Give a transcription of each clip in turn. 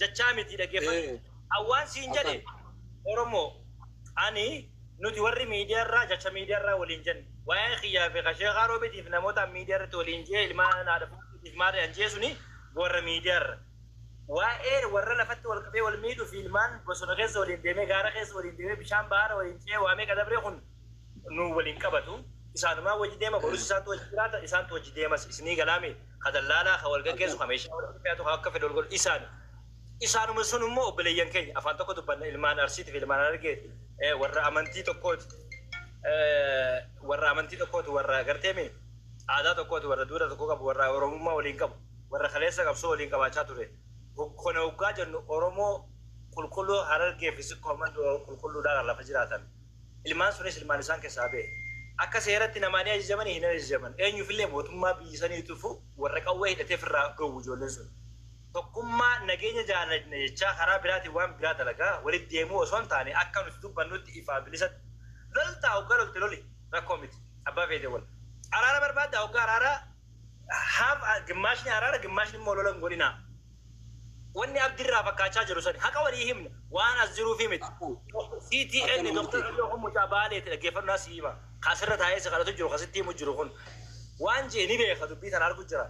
jachaa miti dhaggeeffadhu. Ee. Awwaan siin jedhe Akkan. Oromoo ani nuti warri miidiyaa irraa jacha miidiyaa irraa waliin jenne waa'ee kiyyaa fi kasheekaa roobitiif namootaan miidiyaa irratti waliin jee ilmaan haadha fuutuutiif maarree an jee suni warra miidiyaa irra. Waa'ee warra lafatti wal qabee wal miidhu fi ilmaan bosona keessa waliin deemee gaara keessa waliin deemee bishaan baara waliin ce'ee waa meeqa dabree kun nu waliin qabatu. Isaanumaa wajji deema borus isaantu wajji jiraata isaantu wajji deemas isinii galaamee. ka dallaalaa, ka wal gaggeessu, ka meeshaa wal irra fe'atu, ka akka fedhe wal godhu isaani. Isaanuma sun immoo obboleeyyan keenya, afaan tokko dubbanna, ilmaan Arsiiti fi ilmaan Harargeeti, warra amantii tokkooti, warra amantii tokkooti, warra gartee mi aadaa tokkooti, warra duudhaa tokko qabu, warra Oromummaa waliin qabu, warra kaleessa qabsoo waliin qabaachaa ture. Kana hoggaa jennu Oromoo qulqulluu Harargee fi Sikkoo Mandoo qulqulluudhaa kan lafa jiraatan, Ilmaan sunis ilmaan isaan keessaa ba'e. Akka seeratti namaa ni ajajamanii hin ajajaman. Eenyuufillee mootummaa biyyi saniitiifu warra qawwee hidhatee firraa dhoowwu ijoolleen sun. Tokkummaa, nageenya jaalajna jechaa karaa biraatiin waan biraa dalagaa walitti deemuu osoo hin taane akka nuti dubbannutti ifaa bilisatti loltaa hoggaa lolte loli rakkoo miti. Abbaa feete wal. Araara barbaaddaa hoggaa araara half gimmaashni araara gimmaashni immoo lola hin godhinaa. Wanni abdi irraa fakkaachaa jiru sani. Haqa walii himna. Waan as jiruufii miti. CTN Dr Abiy kun mucaa Baaleeti dhaggeeffadhu sii hima. Ka asirra taa'ee si kadhatu jiru ka sitti himu jiru kun. Waan je'e ni beeka dubbii tana argu jira.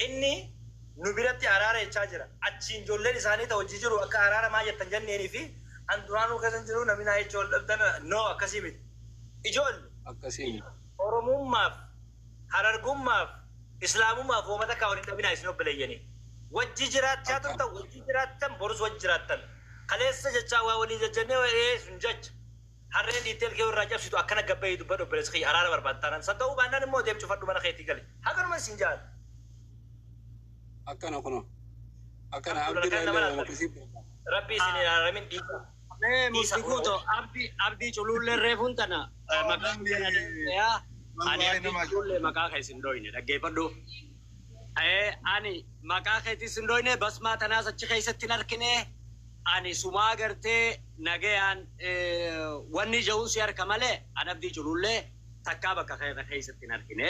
Inni nu biratti araara jechaa jira. Achiin ijoolleen isaanii ta wajji jiru akka araara maa jettan janneenii fi an duraanuu keessa hin jiru namni naa jechuu wal dhabdan no akkasii miti. Ijoolle! Akkasii miti. Oromummaaf Harargummaaf Islaamummaaf woma takkaa wal hin dhabinaa isin obboleeyyanii. Wajji jiraachaa Akka turtan wajji jiraattan borus wajji jiraattan. Kaleessa jechaa waa walii jajjannee wa ee sun jecha. Harreen dhiittee ilkee walirraa cabsitu akkana gad bahii dubbadhu obboleessa kiyya araara barbaadda taanaan. San ta'uu baannaan immoo deem cufadhu mana keetii gali. Haganuman siin ja'an. Akkana kunoo. Akkana Alhamdulillah kan abdurrahillee nama woma laattan. akkasii beeka. Rabbii isin hin araaramin dhiisaa. Mee Isa murti guuto kunoo. abdi abdi culuullee reefuun tana eh, maqaa Abdi- guyyaa deebi'eeyaa. Ani Wallahi abdi nama culuullee ajaa'iba. maqaa kee sin dhoyne dhaggeeffadhu. Eh, Ani maqaa keetii sin dhoyne basmaa tanaas achi keessatti hin harkine. Ani sumaa gartee nagayaan eh, wanni ja'uun si harka malee an abdii culuullee takkaa bakka keessa keessatti hin harkine.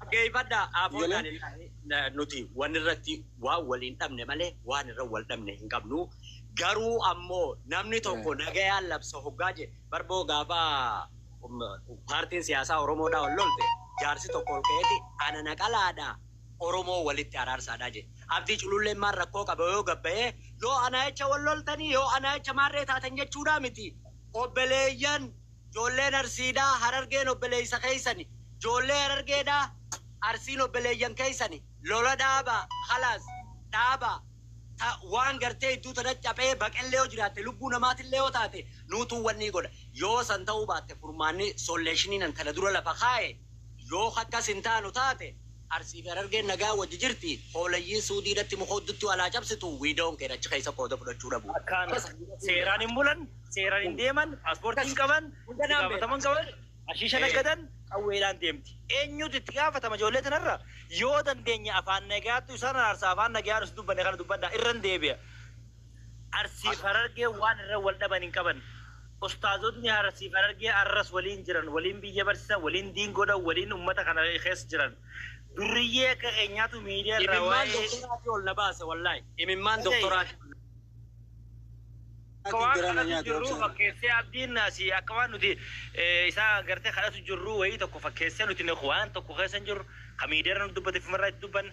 Dhaggeeffadhaa Aafoo Galee. Daani'el nuti waan irratti waan waliin dhabne malee waan irra wal dhabne hin qabnu. Garuu ammoo namni tokko nagayaan labsa hoggaa jedhe barboo gaafa um, paartiin siyaasaa Oromoodhaa ol lolte jaarsi tokko ol ka'eeti ana naqalaadhaa Oromoo walitti araarsaadhaa jedhe. Abdii cululleen maal rakkoo qaba yoo gabbayee yoo anaa jecha wal loltanii yoo anaa jecha maarree taatan jechuudhaa miti. Obbeleeyyan Joolleen Arsii dha Harargeen obbeleeysa keeysani Joollee Harargee dha Arsiin obbeleeyyan keeysani Lola dhaabaa khalaas dhaabaa Ta waan gartee idduu tanatti caphee baqellee yoo jiraatte lubbuu namaatillee yoo taate nuutuu wannii godha Yoo san ta'uu baatte furmaanni solleeshinii nan kana dura lafa kaaye Yoo khakkas hin taanu taate Arsii fi Harargeen nagaan wajji jirti Hooleyyiin Suudii dhatti muka uddutti wal haa cabsitu We don't care achi keeysa qooda fudhachuu dhabuu Akkaan seeraan hin bulan seeraan hin deeman, paaspoortii hin qaban, itti gaafatama hin qaban, hashiisha naggadan, qawweedhaan deemti. Eenyutu itti gaafatama ijoollee tanarra? Yoo dandeenye afaan nagayaattu isaan araarsaa afaan nagayaan usi dubbanne kana dubbadhaa. Irran deebi'a. Arsii fi Harargeen waan irra wal dhaban hin qaban. Ustaazotni Arsii fi Harargee arras waliin jiran, waliin biyya barsiisan, waliin diin godhan, waliin ummata kana keessa jiran. Durriyyee akka keenyaatu miidiyaa irraa Imimmaan waa'ee doktoraatii ol na baase wallaahi. Imimmaan Dhaga'i. doktoraatii. Akka waan kadhatu jirruu fakkeessee abdiin naasii akka waan nuti isaa gartee kadhatu jirruu wayii tokko fakkeessee nuti nuti waan tokko keessa hin jirru ka miidiyaarra nu dubbate fumarraa itti dubban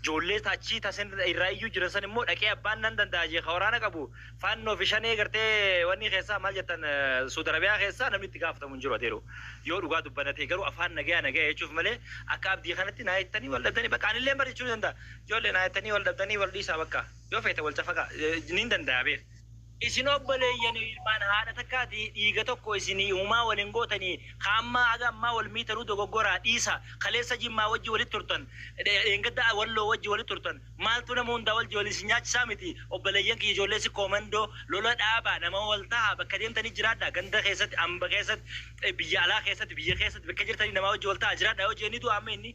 joollee taachii tasin irraa iyyuu jiran san immoo dhaqee abbaan nan danda'a jee ka waraana qabu faannoo fi shanee gartee wanni keessaa maal jettan suud arabiyaa keessaa namni itti gaafatamu hin jiru adeeru yoo dhugaa dubbana ta'e garuu afaan nagaya nagaya jechuuf malee akka abdii kanatti naa jettanii wal dhabdanii bakka anillee bar jechuu ni danda'a joollee naa jettanii wal dhabdanii wal dhiisaa bakka yoo feete wal cafaqaa niin danda'a beek Isin obboleeyyanoo ilmaan haadha takkaatii dhiiga tokko isinii humaa wal hin gootanii ka ammaa haga ammaa wal miitanuu dogoggoraa dhiisaa kaleessa jimmaa wajji walitti turtan dheengadda walloo wajji walitti turtan maaltu nama hundaa wajji wal isin nyaachisaa miti obboleeyyan kiyya ijoollee sikkoo mandoo lola dhaabaa nama wal tahaa bakka deemtanii jiraadhaa ganda keessatti amba keessatti biyya alaa keessatti biyya keessatti bakka jirtanii namaa wajji wal tahaa jiraadhaa yoo jeeni du'a amma inni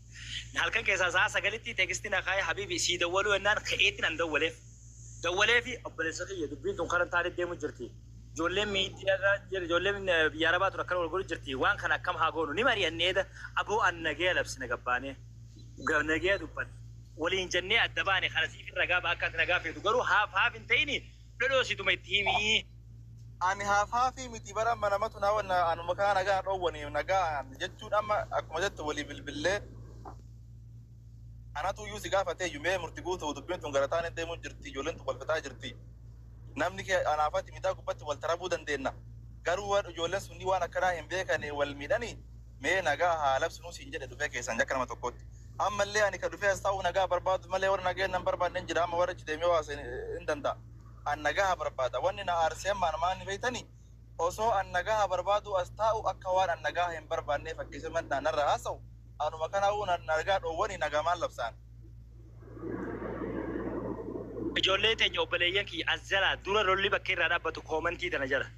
Halkan keessaa sa'a sagalitti teekisti na kaa'ee habiibi sii dawwaluu ennaan ka'eetiin an dawwaleef. Dawwalee fi obboleessa kiyya dubbiin tun karan taanit deemu jirti. Ijoolleen miidiyaarra jir- ijoolleen eh, biyya arabaa tun akkana wal godhu jirti. Waan kana akkam haa goonu ni mari'anne eeda aboo an nagaya labsine gabbaanee. Ga- Nagaya dubbanne. Waliin jennee adda baane kana siifin ragaa ba'a akka ati nagaa feetu garuu haaf haaf hin ta'ini dhodhoosituma itti himi. Ani haafhaafii miti bara amma namatu na wanna anuma kana nagaa dhoowwani nagaa jechuun amma akkuma jettu walii bilbillee anatu iyyuu si gaafatee iyyuu mee murti guutu dubbiin tun gara taanee deemuu jirti ijoolleen tun walfataa jirti namni kee anaafati miidaa gubbatti wal tarabuu dandeenna garuu waan ijoolleen sunni waan akkanaa hin beekane wal miidhanii Mee nagaa haa labsinuu siin jedhe dhufee keessaan jakka nama tokkootti. Amma illee ani ka dhufee as taa'uuf nagaa barbaadu malee warra nagaa hin barbaadne hin jira amma warra achi deemee waase hin danda'a. An nagaa barbaada wanni na aarsee ammaan maanni beektani osoo an nagaa barbaaduu as taa'u akka waan an nagaa hin barbaannee fakkeessee mandhaa narra haasa'u anuma kanaa'uu na nagaa dhoowwani nagaa maal labsaan. Ijoollee teenya obboleeyyan kiyya as jalaa dura lolli bakka irraa dhaabbatu koomantii tana jala.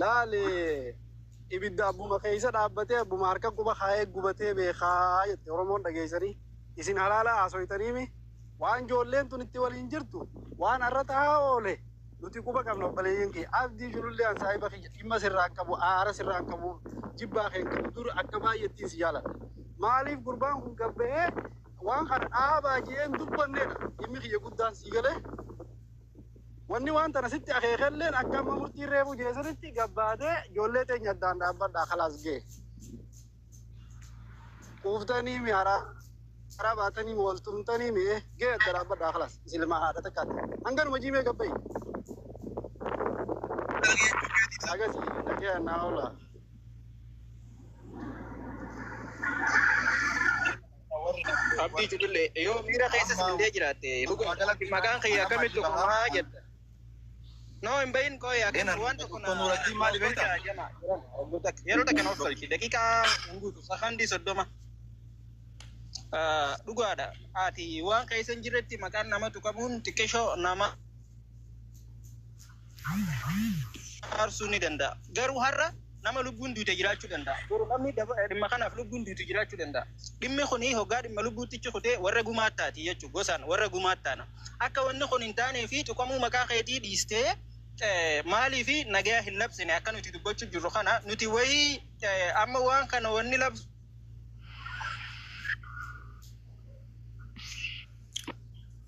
Laali! Ibidda abbuma keessa dhaabbatee abbuma harka quba kaa'ee gubatee beeka jette Oromoon dhageessanii isin halaala haasoytaniimi? Waan joolleen tun itti waliin jirtu waan arra tahaa oole nuti quba qabna obboleeyyan kiyya. Abdii Julullee an saahiba kiyya dhimma sirraa hin qabu aara sirraa hin qabu jibbaa kee hin qabu dur akka baay'ettiin si jaaladha. Maaliif gurbaan kun gad bahee waan kana dhaabaa je'ee hin dubbannedha dhimmi kiyya guddaan sii galee? Wanni waan tana sitti akeekelleen akka amma murtiin reefuu jee sanitti gabbaatee ijoollee teenya addaan dhaabbadhaa kalaas gee. Quuftanii mi haraa haraa baatanii mi wal tumtanii mi eh, gee adda dhaabbadhaa kalaas isilmaa haadha takkaatti. Hanganuma jiimee gabbayi. Agasi dhagee naa oolaa. Abdii Judille yoo miira keessa sindee jiraatte dhugaa galatti maqaan kiyya akkamitti kumaa jetta. Noo hin bahin qooyi akkan waan tokko na tolchaa jama. Yeroo takka na tolchi daqiiqaa hin guutu sakandii soddoma. Dhugaadha ati waan keessa hin jirretti maqaan nama tuqamuun xiqqeeshoo nama araarsuu ni danda'a. Garuu har'a nama lubbuun duute jiraachuu danda'a. Boru namni daba- dhimma kanaaf lubbuun duutu jiraachuu danda'a. Dhimmi kun hoggaa dhimma lubbuuttichi kutee warra gumaattaati jechuudha. Gosaan warra gumaattaana. Akka wanni kun hin taanee fi tuqamuu maqaa keetii dhiistee eh, maalii fi nagaya hin labsine akka nuti dubbachuuf jirru kana nuti wayii eh, amma waan kana wanni labsu